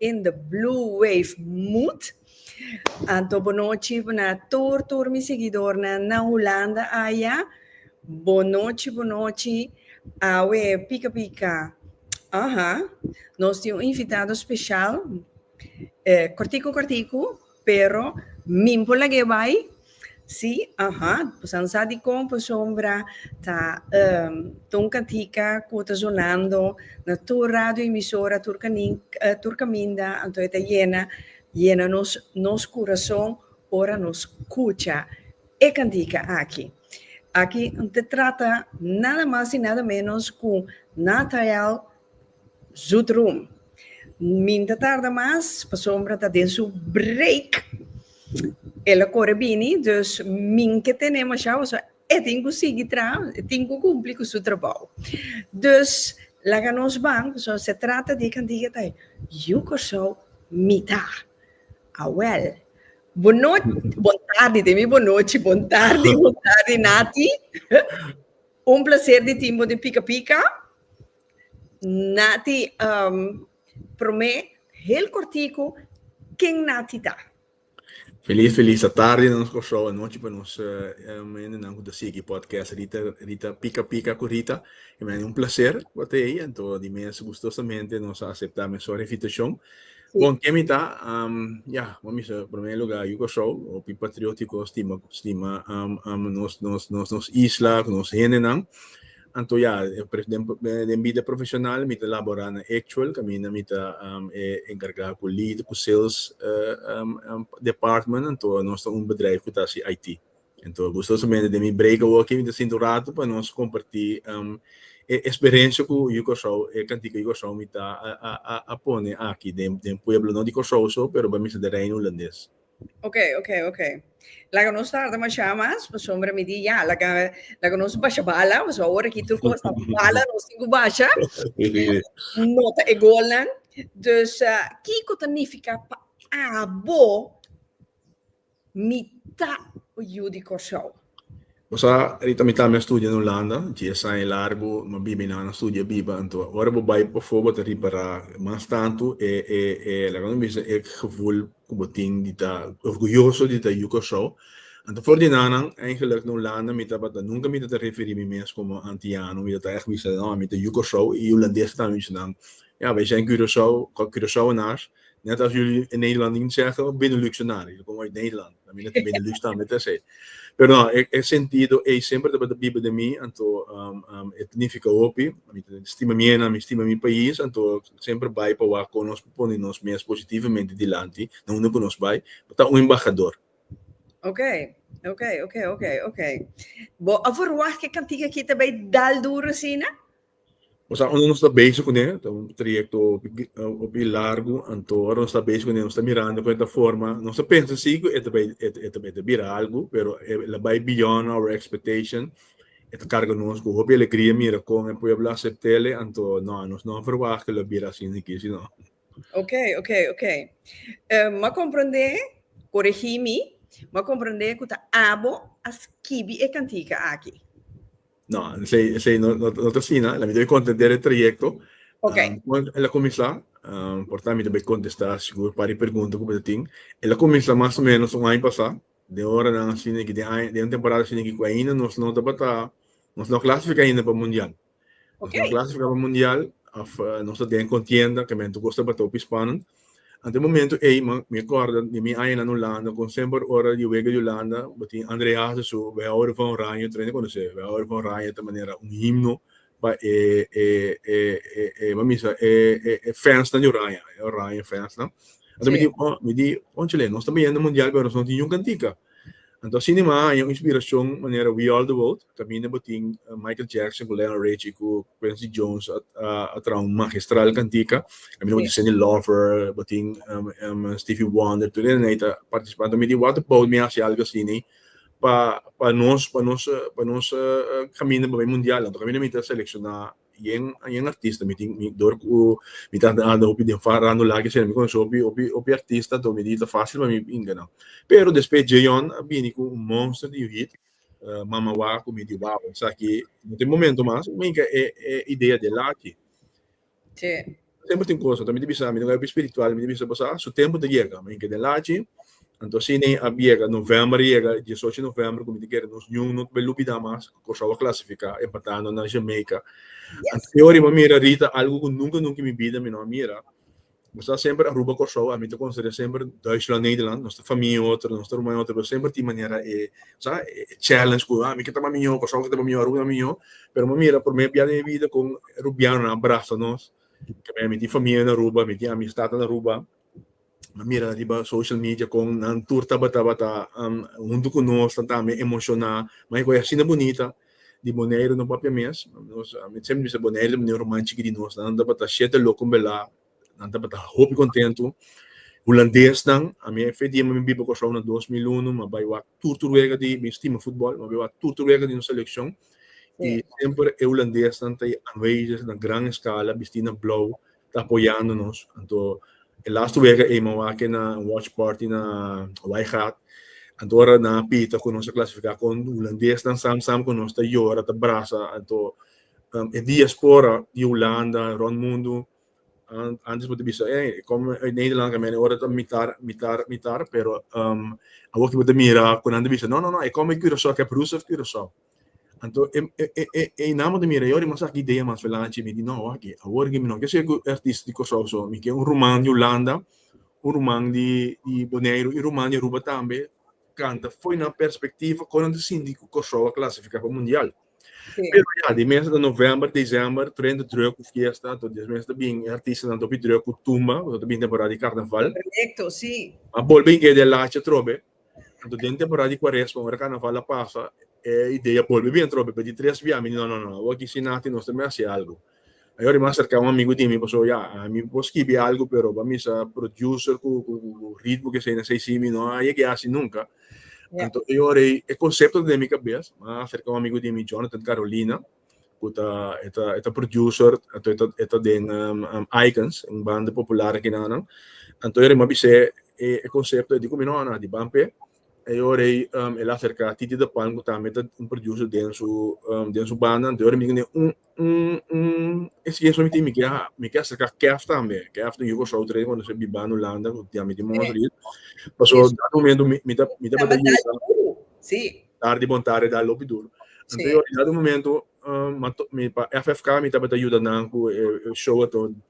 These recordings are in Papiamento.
in the blue wave mood anto bonochi na tur tur mi seguidornan na Hulanda aya bonochi bonochi awe pika pika aha nos tin un invitado special eh cortico cortico Pero min por lag'é bai? Sí, aha. Bosan sa di kon Posombra ta ehm ta un kantika ku ta sonando na tur radioemisora, tur kanin, tur kaminda, anto e ta yena, yena nos, nos kurason ora nos skucha e kantika aki. Aki ta trata nada mas i nada ménos ku Nathael. Zoet Room. Min ta tarda mas, pasobra ta den su break. El a kore bini, dus min ke tene mashá hosa, e tin ku sigui traha, e tin ku kumpli ku su trabou. Dus, laga nos ban, pasobra se trata di e kantiga ta Yu Kòrsou mi ta. Awèl. Bon nochi, bon tardi, te mi bon nochi, bon tardi, bon tardi, Nati. Un plaser di tin bo den Pika Pika. Nati, um, promé, heel kortiku, ken Nati ta? Feliz, feliz atardi na nos Kòrsou, anochi pa nos eh, mendenan ku ta sigui podcast Rita, Rita Pika Pika ku Rita. E men un placer pa te ei, anto di mes gustosamente nos a aceptá men sor invitashon. Sí. Bon, kemi ta, um, ja, mo misa, promé lugar, yu Kòrsou, hopi patriótiko, stima, stima um, um, nos, nos, nos, nos isla, ku nos hendenan. Anto ya, den bida profesional mi ta labora na Actual, caminda mi ta e encarga cu lead, cu sales department, anto nos ta un bedrijf cu ta haci IT. Anto gustosamente den mi break awor mi ta sinta un rato pa nos comparti e experiencia cu Curaçao, e cantica di Curaçao mi ta a pone aki den pueblo, no di Curaçao so, pero bamesa den Reino Hulandes. Ok, ok, ok. Laga nos tarda masha mas, pa sombra mi di ya, laga, laga nos basha bala, mas ahora ki tur cosa bala nos tin ku basha. Nota e golnan. Dus, uh, kiko ta nifiká pa abo mi ta yu di Kòrsou? Bo sa, Rita mi tambe a studia na Hulanda, dies aña i largu no biba i nan a studia biba, anto ora bo bai pafó bo ta ripará mas tantu e e e laga mi bisa e gevoel ku bo tin di ta orguyoso di ta yu Kòrsou. Anto for di nannan, eigenlijk na Hulanda mi tabata nunka mi ta ta referí mi mes komo antiano, mi ta ta ègt bisa no, mi ta yu Kòrsou i hulandeses tambe mi bisa nan, ya, bai sen Curaçao, Curaçaoenaars. Net als jullie in Nederland niet zeggen, Benelux-enaren. Jullie komen uit Nederland. Dan ben ik Benelux dan met ze. Pero no, ik, ik sentido, ei sempre dat de Bijbel de mij, en to, um, um, het nifica hopi, mi stima mi ena, mi stima mi país, en to, sempre bij pa waar kon ons pone nos mes positivamente dilanti, na uno kon ons bij, ta un embajador. Ok, ok, ok, ok, ok. Bo a verwacht ke kantiga kita bij dal duro sina? Nos a unda nos ta bezig kuné ta un trayekto hopi largu anto ora nos ta bezig kuné nos ta mirando kon e ta forma nos ta pensa si ku e ta bai e ta bai ta bira algu pero e la bai beyond our expectation e ta karga nos ku hopi alegria mira kon e pueblo asept'el anto no nos no a verwacht ku lo a bira asina aki sino. Ok ok ok Em a komprendé koregí mi m'ha komprendé ku ta abo a skibi e kantika aki. No, esei, esei no, no, no ta sina. La mi ta bai contender e trayecto. Ok. Um, cuando el a comenzá, um, por tanto mi ta bai contestá seguro para e pregunta cu ta tin. El a comenzá más o menos un año pasá. De hora nan así neki, de año, de un temporada así neki, cu ainda nos no tabata, nos no clasificá ainda pa mundial. Nos Ok. no clasificá pa mundial, of, uh, nos ta den contienda, caminto cos tabata hopi spannend. Ante momento ey mi corda di mi aña nan Hulanda con semper ora di wega di Hulanda bo tin André Hazes su We houden van Oranje tren conoce We houden van Oranje ta manera un himno pa e e e e bo misa e e e fans nan di Oranje e Oranje fans nan anta mi di oh mi di conchele nos ta beyendo mundial pero nos no tin yun cantica Anto asina e manga a haña un inspiracion manera We Are The World, caminda bo tin Michael Jackson cu Lionel Richie cu Quincy Jones a traha un magistral cantica, caminda bo tin Cyndi Lauper, bo tin Stevie Wonder, tur esnan ei ta participa. Anto mi di What About Mi a hasi algo asina pa nos caminda pa bay mundial. Anto caminda mi ta selecciona Yen yen artista mi tin mi dor ku mi ta anda anda hopi den farando lak esei mi konoshi hopi hopi hopi artista to mi di ta fásil pa mi pinga nan pero despues Djeyon a bini ku un monster di un hit Mama Wak ku mi di wao esaki no ta e momento mas mi yinka e e idea del aki. Tempu tin kos, anto mi ta bisa, mi ta kaba spiritual, mi ta bisa boso, su tempu ta yega, maña ke den lachi, anto asina a yega, novèmber a yega, e diesocho di novèmber ku mi ta kere nos ñuun no ta bai lubidá mas ku Kòrsou a klasifiká empatando na Jamaica. Anto e ora mi a mira Rita, algu ku nunka nunka i mi bida mi no a mira, nos ta semper Aruba Kòrsou, ami ta konsiderá semper Duitsland Nederland, nos ta famia en otro, nos ta ruma en otro, pero semper tin manera e sa, e challenge ku, a mi ke ta mas mihó, Kòrsou ke ta mas mihó, Aruba ke ta mas mihó, pero mi a mira, promé biaha den mi bida kon Rubianonan a brasa nos. Keme mi tin famia na Aruba, mi tin amisdadnan na Aruba. Mi a mira riba social media kon nan tur tabata bata huntu ku nos, nan tambe emoshoná. Mai ku e asina bunita di Boneiru no papia mes. Mi semper bisa Boneiru ta bini un ruman chiki di nos. Nan tabata shete loko belá. nan tabata hopi kontentu. Hulandesnan, ami e fe diema mi bin pa Kòrsou na dos mil unu, mi a bai wak tur tur wega di, mi stima futbòl, mi a bai wak tur tur wega di nos selekshon, i semper e hulandesnan ta anwezig na gran eskala bistí na blou ta apoyando nos. Anto e lastu wega ei mi a wak kena wòch pàrti na Wijngaard, anto ora nan a pita ku nos a klasifiká kon hulandesnan sam sam ku nos ta yora, ta brasa, anto. um, e diaspora di Hulanda, rond mundo, um, antes moet bisa, eh, kom uit Nederland, kamen ora ta mitar, mitar, mitar, pero um, a wak moet mira, kunan te bisa, no, no, no, e kom uit Curaçao, kep Rus of Curaçao. Anto, e, e, e, e, e na moet mira, jori mas aki idea mas velanchi, mi di, no, waki, a wor gimi, no, ke se ku artist di Curaçao, so, mi ke un Roman di Hulanda, un Roman di, di Bonaire, un Roman di Aruba tambe, canta foi na perspectiva konan te sinti ku Kosovo a klasifiká pa mundial. Pero ya, di mes de november, december, tren de druk cu fiesta, tot des mes de bin, artista nan topi druk cu tumba, tot bin temporada di carnaval. Correcto, si. A bolbe idea de lacha trobe, anto den temporada di cuaresma, ora carnaval a pasa, e idea bolbe bien trobe, pero di tres bia, mi di no, no, no, awor aki si nati, nos ta mester haci algo. Ajo ri mas serka un amigu di mi paso ya mi por skibi algu pero pa misa producer ku ritmo ku esei na esei si mi no a yega hasi nunka entonces ajo ri e concepto ta den mi kabes a serka un amigu di mi Jonathan Carolina ku ta e ta e ta producer entonces e ta den Icons un banda popular aki nan entonces ajo ri mi a bise e concepto e di ku mi no a di ban pe ajo ri el a serka Titi de Palm ku tambe ta un producer den su den su banda entonces ajo ri mi ku ne un es yeso mi tin mi ke mi ke acerca kef tambe kef tin yugo south rei cuando esey biba en Hulanda cu diami tin Montreal pasobra en dat momento mi mi ta mi ta bata yuga tardi bon tardi da lopi duro entonces en dat momento mi pa FFK mi tabata yuda nan cu e show ato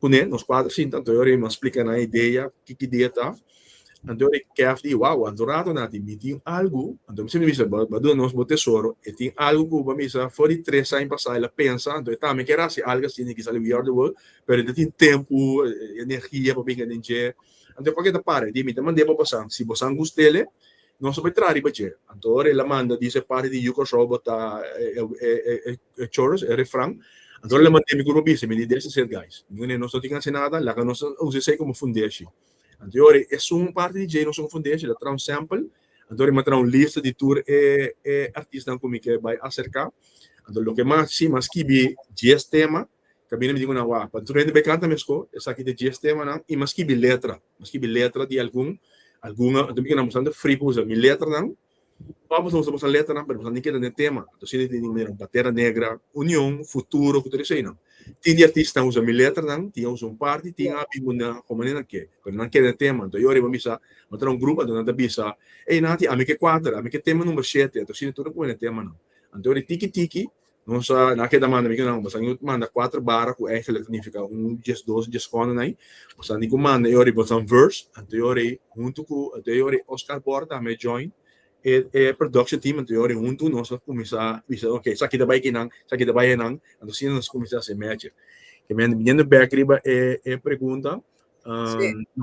Kuné nos kuater sinta anto yori nos splika nan idea ki ki dia ta. Anto yori Kev di wow anto rato na di mi tin algu anto mi siempre bisa bo a duna nos bo tesoro e tin algu ku bo a bisa for di tres aña pasa e la pensa anto e tambe kier hasi algu asina e ki sali we are the world pero e no tin tempu energia pa binga den dje anto e kua ke ta para e di mi ta manda e pa bo san si bo san gustele. Nos a bai traha riba dje. Anto ora el a manda di se parti di yu Kòrsou botá e chorus, e refran, anto ora el a manda mi grupo bisa, mi di desa ser gais. Mi wene, nos no tin hasi nada, laga nos a usa esei komo fundeshi. Anto e ora e sun un parti di dje nos komo fundeshi, el a traha un sample, anto ora el a traha un lista di tur e artisnan ku mi ke bai aserká. Anto loke mas, si, m'a skibi dies tema. Camina mi tin un awá pa tur hende bai canta mesco. Esaki ta dies temanan y mi a skibi letra. Mi a skibi letra di algun, algun a dor mi keda mostrando fri pa usa mi letranan. Ora boso ta bosa letranan pero boso a tin keda den tema. Anto asina tin di manera Pantera Negra, Union, Futuro cu tur eseinan. Tin di artistanan usa mi letranan, tin a usa un parti, tin a habi unda hombre nan ke. Pero nan keda den tema. Anto ey ora bo bisa bo ta na un grupo anto nan ta bisa ey nati ami ke cuater, ami ke tema number shete. Anto asina tur a cume den temanan. Anto ora e tiki tiki. Nos a a keda manda mi ku nan, boso a niu manda kuater bara ku èngel a signifiká un dies dos dies kònen ai. Boso a niu manda e ora ei boso a verse anto e ora ei huntu ku anto e ora ei Oscar Bor tambe a join e e production team anto e ora ei huntu nos a kuminsá bisa ok esaki ta bai ki nan esaki ta bai e nan anto asina nos kuminsá hasi e mèche. Kemende biniendo bèk riba e e pregunta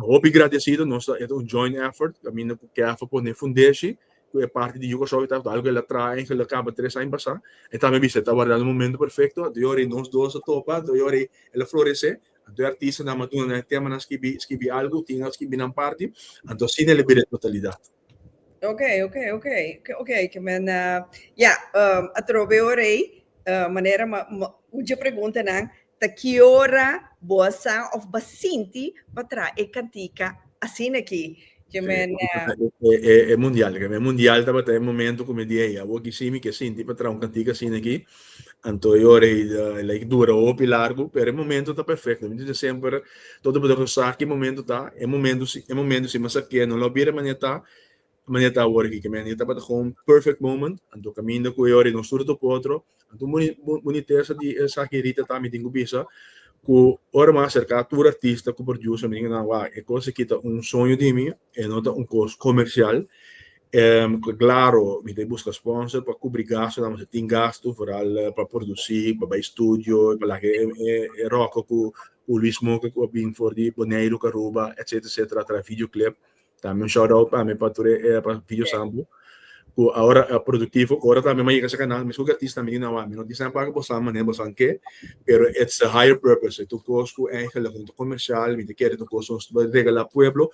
Hopi gradecido, nos ta un joint effort, caminda cu CAFA pone fundeshi, cu e parti di Yuka South ta algo cu el a traha en Geluk caba tres aña pasa, e ta mi bisa ta warda un momento perfecto, anto yori nos dos a topa, anto yori el a florece, anto e artistanan a duna nan e temanan, skibi algo, tin a skibi nan parti, anto asina el a bira e totalidad. Ok, ok, ok, ok, ke men ya, atrobe ora ei manera ma un dje preguntanan ta ki ora bo a sa òf bo a sinti pa traha e kantika asina aki? Ke men. E mundial, ke men mundial tabata e momentu ku mi di ei, awor kisi mi ke sinti pa traha un kantika asina aki. Anto e ora ei a like dura hopi largu pero e momento ta perfecto. Mi ta bisti semper todo pasobra no sa ki momento ta e momento si e momento si masa ke no lo bira mane ta mane ta awor aki kimin e tabata gewoon perfect moment anto kaminda ku e ora ei no suru ta ku otro anto boni bonitesa di esaki Rita ta mi tin ku bisa ku ora mi a aserka tur artista ku producer mi tin ku nan wak e kos aki ta un soño di mi e no ta un kos komersial Klaro mi ta buska sponsor pa kubri gastu nan, pasobra tin gastu foral pa produsí, pa bai studio, pa laga e ròkò ku Luis Moke ku a bin for di Boneiru ku Aruba etsetera etsetera atrás video clip. Tambe un shout out pa mi pa tur e video sampo ku awor a produktivo ku ora tambe mi a yega sa kanal meskos ku artista mi di nan wak mi no tin sa nan paga boso mané boso nan ke pero its a higher purpose e ta un kos ku eigenlik no ta komersial mi ta kere ta un kos ku nos ta regalá pueblo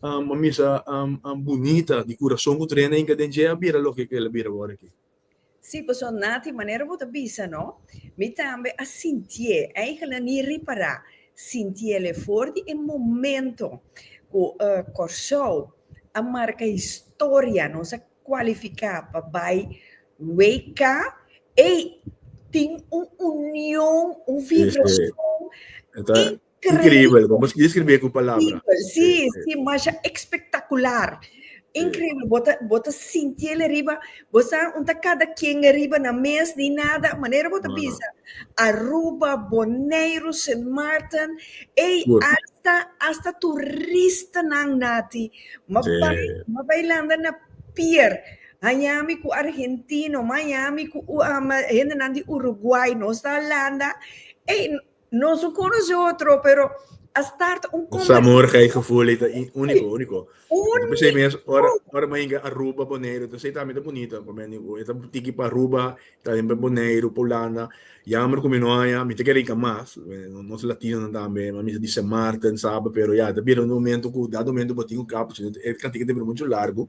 a misa bunita di kurason ku trena inka den dje a bira loke ku el a bira wòrdu aki. Sí, pasobra Nati, manera bo ta bisa no, mi tambe a sintié, eigentlik ni ripará, sintiél e for di e momento ku Kòrsou a marka historia, nos a kualifiká pa bai WK, ei tin un union, un vibrason. Increíble, vamos a describir con palabras. Sí, sí, más espectacular. Increíble, bota, bota sintiele arriba, bota unta cada quien arriba na mes ni nada, manera bota no, bisa. Aruba, Bonaire, Sint Maarten, ei, Goed. hasta, hasta turista nan nati. Ma sí. ma bailando na pier. Miami ku argentino, Miami ku um, hende nan di Uruguay, nos ta Holanda. Ei, Nos no conoce otro, pero a start un Ons conversatie. amor ga e gevoel ei ta i- único, único. Uni. Pe sei mes, ora, ora mei ga Aruba, Boneiru, ta sei tambe ta bonito, pa meni ku e ta tiki pa Aruba, tambe pa Boneiru, pa Hulanda. Jammer ku mi no haña, mi ta kere hinka mas, eh, no- nos latinonan tambe, mi bisa di Sint Maarten, Saba, pero ya, ta bira un momento ku dado momento bo tin un kapchi, e kantika ta bira muchu largu.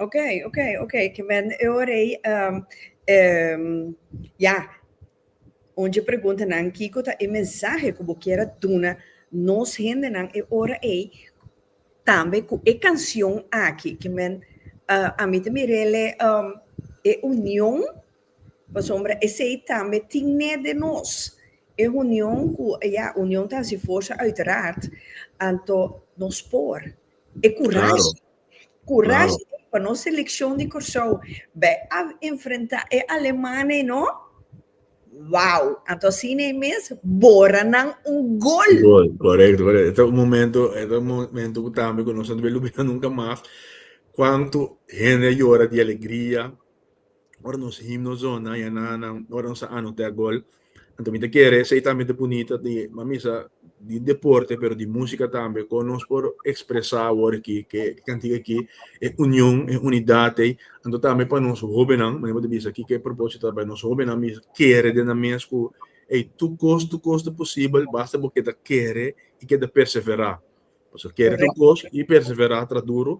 Ok, ok, ok, que men eu rei um, um, ya. Onde pergunta nan Kiko ta e mensaje que bo quiera duna nos hende nan e ora ei tambe ku e canción aki que men uh, a mi te mirele um, e unión pa sombra esei tambe tine de nos e unión ku ya unión ta si forza uiteraard anto nos por e courage claro. Kurashi pa nos selekshon di Kòrsou bai a enfrentá e aleman ei no, wou, anto asina ei mes bora nan un gol. Gol, korekto, korekto. E ta un momentu, e ta un momentu ku tambe ku nos no ta bin lubidá nunka mas, kuantu hende a yora di alegria. Ora nos himno zona ya na nan ora nos a anota gol anto mi ta kere esei tambe ta bunita di mamisa di deporte pero di musika tambe kon nos por ekspresá awor aki ke kantika aki e union e unidat ei anto tambe pa nos hóbennan manera bo ta bisa kiko e propósito ta pa nos hóbennan bisa kere den nan mes ku ei tur kos tur kos ta posibel basta bo keda kere i keda perseverá. Pasobra kere tur kos i perseverá tra duru.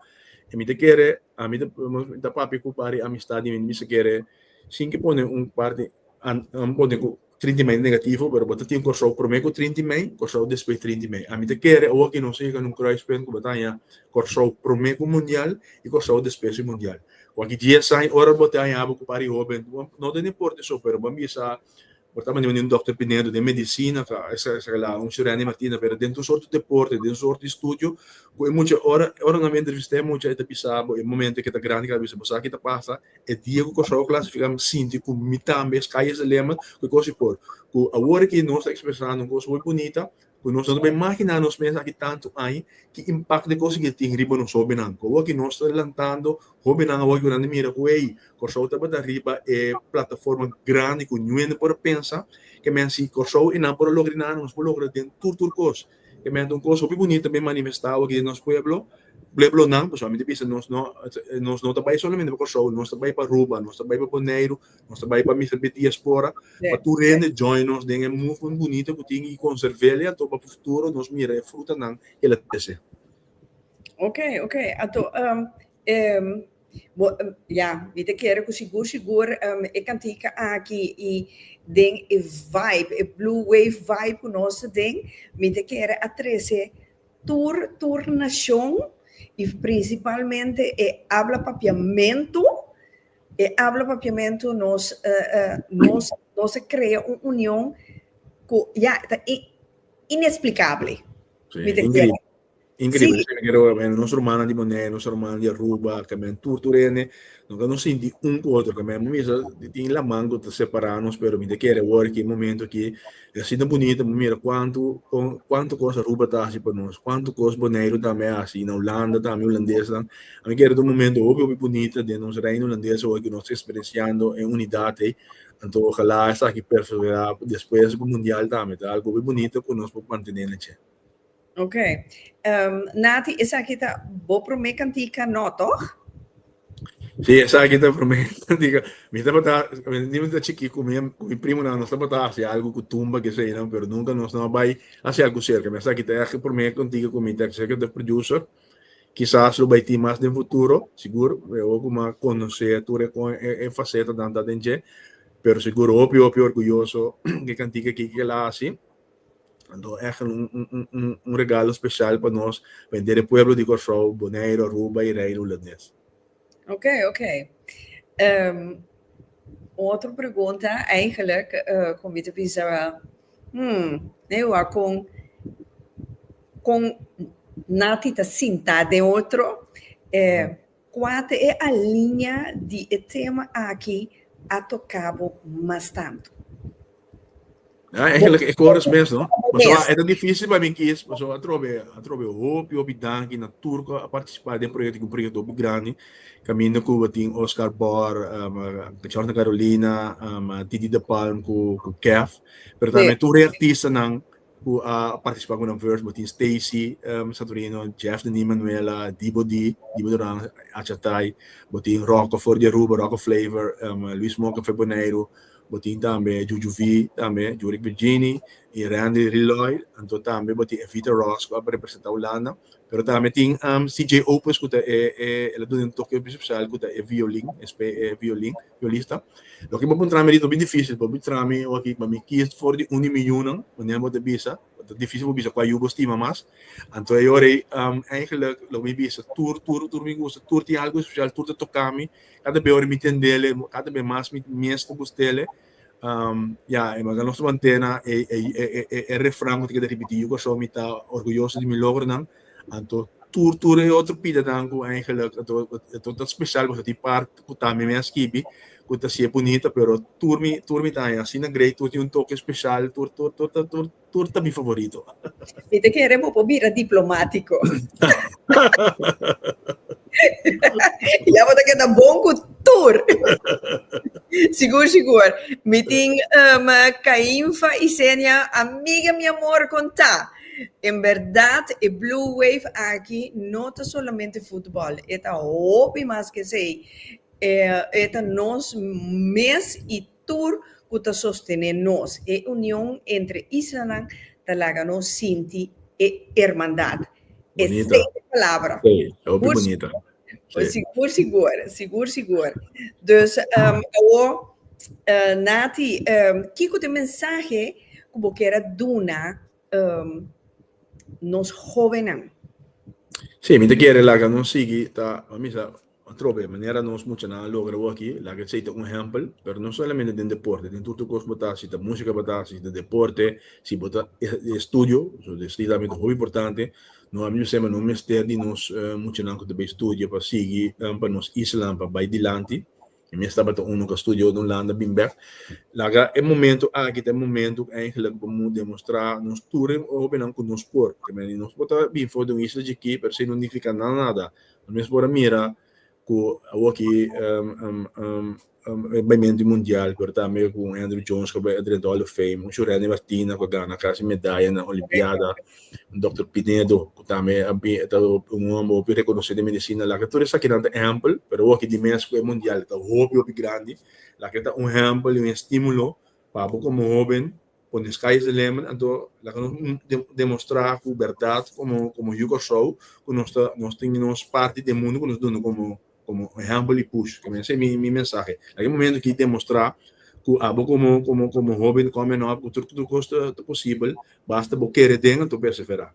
I mi ta kere, ami ta, mi ta papia ku par e amistad di mi, mi ta kere sin ke pone un parti, amo pone ku trinti mei negativo, pero bo ta tin Kòrsou promé ku trinti mei, Kòrsou despues trinti mei. Ami ta kere awo aki nos ta yega na un kruispunt ku bo ta haña Kòrsou promé ku mundial i Kòrsou despues di mundial. Ku aki dies aña ora bo te hañaba ku par e hóben, no ta importa esou, pero bo a bisa Por ta manda mi un Dokter Pinedo den medicina ta esa esa la un Shurendi Martina pero den tur sorto deporte den sorto estudio cu e mucha ora ora nan mi a entrevista e mucha e ta bisa bo e momento ke ta grandi ke a bisa bo sa ki ta pasa e dia ku Kòrsou a klasifiká mi sinti ku mi tambe es Calles de Lima ku e kos i por ku awor aki nos ta ekspresá nos kos hui bunita Ku nos ta tabata imaginá nos mes aki tantu aña, ki impakto di kos aki ta tin riba nos hóbennan? Ku awo'e ku nos ta lantando, hóbennan awo'e ku nan ta mira ku, ey, Kòrsou tabata riba e plataforma grandi ku nu'e no por a pensa. Ke men, si Kòrsou i nan por a logra di nan, nos por logra den tur tur kos. Ke men ta un kos hopi bunito ta bin manifestá awe aki den nos pueblo. Pueblonan, pasobra mi ta bisa, nos no ta bai solamente pa Kòrsou, nos ta bai pa Aruba, nos ta bai pa Boneiru, Nos ta bai pa misa bit diaspora, pa tur hende join nos den e movement bunito ku tin i konserv'el i anto pa futuro nos mira e frutanan ku el a trese. Ok, ok. Anto, bo, ya, mi ta kere ku sigur, sigur e kantika aki i den e vibe, e Blue Wave vibe ku nos ta den, mi ta kere a trese tur, tur nashon i prinsipalmente e habla papiamentu. E habla papiamentu nos nos nos a crea un union cu ya ta in inexplicable Sí, mi ta increíble. entiende Increíble. Sí. Esaki quiero men nos hermana di Bonaire, nos hermana di Aruba, que men tur tur hende nos que nos sinti un cu otro, que men misa tin laman cu ta separa nos pero mi ta kere awor aki momento aki E asina ta bunito bo mira cuanto con cuanto cos Aruba ta haci pa nos, cuanto cos Boneiru tambe a haci y na Hulanda tambe Hulandesnan a mi kere ta un momento hopi hopi bunita den nos Reino Hulandes awo cu nos ta experienciando e unidad ey anto ojala esaki perseverá despues pa Mundial tambe ta algo hopi bunito cu nos por mantene na dje. Ok. Ehm, Nati, esaki ta bo promé kantika, no tòg? Sí, esaki ta promé kantika. Mi tabata, di mi ta chikí ku mi, ku mi primonan, nos tabata hasi algu ku tumba, keseinan, pero nunka nos no a bai hasi algu serka. Mi a sa ki ta e promé kantika ku mi ta executive producer. Kisas lo bai tin mas den futuro, sigur, awor ku mi a konosé tur e fasetanan ta den dje, pero sigur hopi, hopi orguyoso di e kantika akí ku el a hasi. Anto echt un un un un un regalo special pa nos pa henter e pueblo di Kòrsou, Boneiru, Aruba i Reino Hulandes. Oké, oké. Ehm un otro pregunta eigenlijk eh kon mi ta bisa hmm ne ua kon kon nati ta sinta den otro eh Kua ta e alinea di e tema aki a toca bo mas tanto? Ya, eigenlijk e coros mes no. Pasobra e ta dificil pa mi kies, pasobra atrobe atrobe hopi hopi danki na tur cu a participa den proyecto, cu un proyecto hopi grandi. Caminda Cuba tin Oscar Bor, Jordan Carolina, Didi de Palm cu Kef, pero tambe tur e artistanan. Cu a participa cu nan verse bo tin Stacy Santorino, Jeff Denis Manuela, Dibo Dee, Dibo Duran, Acha Thai, bo tin Rocco for di Aruba, Rocco Flavor, Luis Moca for Boneiru, bo tin tambe Juju V tambe, Juric Virgini y Randy Riloy, anto tambe bo tin Evita Ross cu a representa Hulanda, pero tambe tin CJ Opus cu ta e el a duna un toke special cu ta e violin, espe e violin. Yo lista. Loke bo por trami ritmo bin dificil bo bin trami oki ma mi kies for di un di mi yunan manera bo ta bisa bo ta dificil bo bisa cua yu bo stima mas anto e ora ei eigenlik lo mi bisa tur tur tur mi gusta tur tin algo especial tur ta tocami cata be ora mi tendele cata be mas mi mes ta gustele ya manga nos mantena e refran bo ta keda repeti yu cosho mi ta orguyoso di mi logronan. Anto tur tur e otro pidenan cu eigenlijk anto anto ta special pasobra tin part cu tambe mi a skibi cu ta sier bunita pero tur mi tur mi ta asina great tur tin un toke special tur tur tur ta tur tur ta mi favorito. Mi ta kere bo por bira diplomatico. ya bo ta keda bon cu tur. sigur sigur. Mi tin um Cainfa y Zenia amiga mi amor con ta. En berdad e Blue Wave aki no ta solamente futbol, e ta hopi mas ke esei, e ta nos mes y tur cu ta sostene nos. E union entre islanan ta laga nos sinti e hermandad. Esei e palabra. Esei, hopi bunita. Pues sigur sigur, sigur sigur. Dus um, awo, uh, Nati, um, kiko te mensahe ku bo kera duna um, nos jovennan? Sí, mi te quiere laga nos sigui ta misa trobe manera nos mucha na logra aquí laga sei ta un ejemplo pero no solamente den deporte den tutu cos bota si ta música bota si ta deporte si bota estudio so de si también hobby importante No a bisa no mester di nos muchanan cu ta bay studia pa sigui pa nos isla pa bay dilanti. E mes tabata un cu a studia ota un landa bin bek. Laga e momento aki ta e momento cu eigenlijk bo moe demostra nos tur e hopinan cu nos por. Nos por ta bin for di un isla chiki pero si no nifica nada nada. Nos mes por a mira ku awo aki e bai menti mundial pero tambe ku un Andruw Jones ku a bai drenta Hall of Fame un Shureni Martina ku a gana kasi medaya na olimpiada un Dòkter Pinedo ku tambe a bin e ta un hòmber hopi rekonosí den medisina laga tur esakinan ta ehèmpel pero awo aki dimes ku e mundial ta hopi hopi grandi laga e ta un ehèmpel i un estímulo pa abo komo hóben Cuando e sky is the limit anto laga nos demostra cu berdad como Yu Corsou cu nos ta nos tin nos parti den mundo cu nos dundu como ehempel y push ta mester mi mi mensahe laga e momento aki demostra cu abo como hoben coming up cu tur tur cos ta posibel basta bo kere den anto persevera.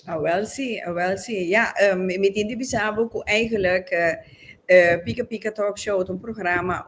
Awel si awel si ya mi tin di bisa bo cu eigenlijk Pika Pika Talk Show ta un programa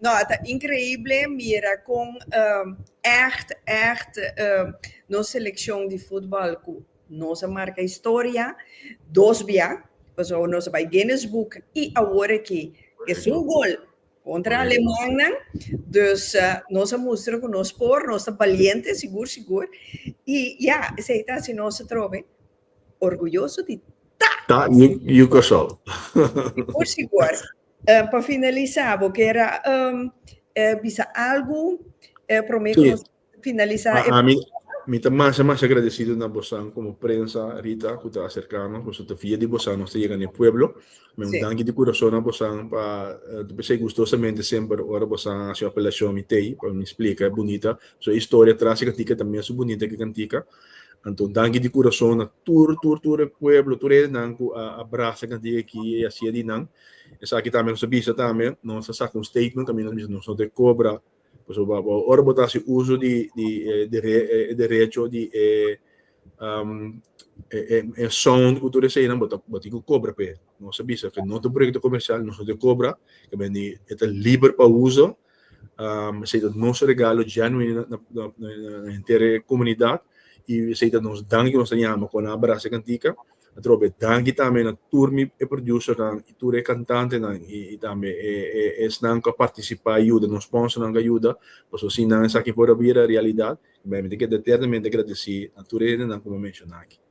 No, a ta increible mira con echt, echt nos seleccion di futbal cu nos a marca historia dos bia, pasobra nos a bai Guinness Book y awor aki esun gol contra Alemannan, dus nos a mustra cu nos por, nos ta baliente sigur, sigur y ya esey ta haci nos atrobe Orguyoso di ta! Ta you you kosol. Y por si guard eh, pa finalisa bo kier a em, eh, bisa algo eh, prome Sí. nos finalisa A, e a mi, mi ta masa, masa agradecido na bosan como prensa, Rita, cu ta acercano, cu ta via di bosan nos ta yega na e pueblo. Mi un Sí. danki di corazón na bosan pa, eh, ta pensei gustosamente semper ora bosan haci un apelacion mi tei, pa mi explica, e bunita, su historia tras e cantica ta mes su bunita que cantica. Anto danki di kurason na tur tur tur e pueblo, tur e nan ku a a brasa kanti e ki e a sia di nan. Esaki tambe nos a bisa tambe, nos a saka un statement kaminda nos bisa nos no ta e kobra, pasobra ora bo ta hasi uso di di e dere e derecho di e e e sound ku tur eseinan bo ta bo tin ku kobra pa e. Nos a bisa ke no ta un proyekto komersial, nos no ta e kobra, e ta liber pa uso, Esei ta nos regalo genuino na henter e comunidad y esei ta nos danki, nos ta yama con nan a brasa e cantica. Atrobe e danki tambe na tur mi e producernan y tur e cantantenan y tambe esnan cu a participa a yuda, nos sponsornan cu a yuda, pasobra sin nan esaki por a bira realidad. Mi a menti ke ta eternamente agradeci na tur e hendenan cu mi a menciona aki.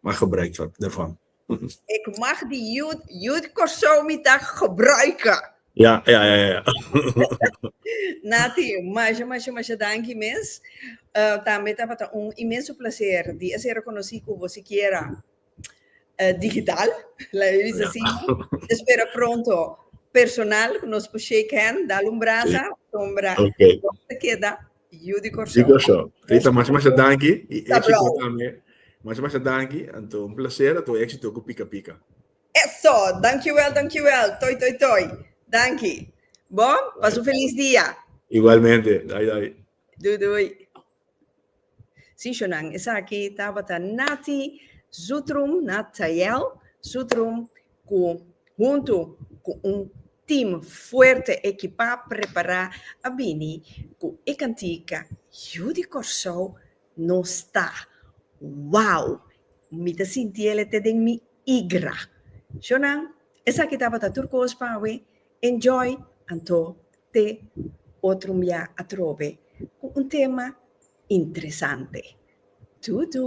Mag gebruik dervan. Ik mag di youth, youth Kòrsou mi ta gebruika. Ja, ja, ja, ja. Nati, masha, masha, masha danki mes. Uh, tambe tabata un inmenso placer di a ser reconocí como siquiera uh, digital, la is así. Espero pronto personal, nos por shake hand, dale un brasa, sombra, Okay. se queda Yu di Kòrsou. Di Kòrsou. Rita, masha masha danki i éksito tambe. Masha masha danki, anto un plaser, anto éksito ku Pika Pika. Eso! Dankiwèl, dankiwèl, Toi Toi Toi. Danki. Bo, pasa un felis dia. Igualmente. Dai dai. Dui dui. Sí, shonnan, esaki tabata Natty Zutrum, Nathael Zutrum. ku huntu ku un tim fuerte ekipá, prepará a bini ku e kantika Yu di Kòrsou no sta. Wow! Mi ta sinti el te den mi igra. Sho nan, esaki tabata tur kos pa awe. Enjoy! Anto te otro mia atrobe ku un tema interesante. Tudu!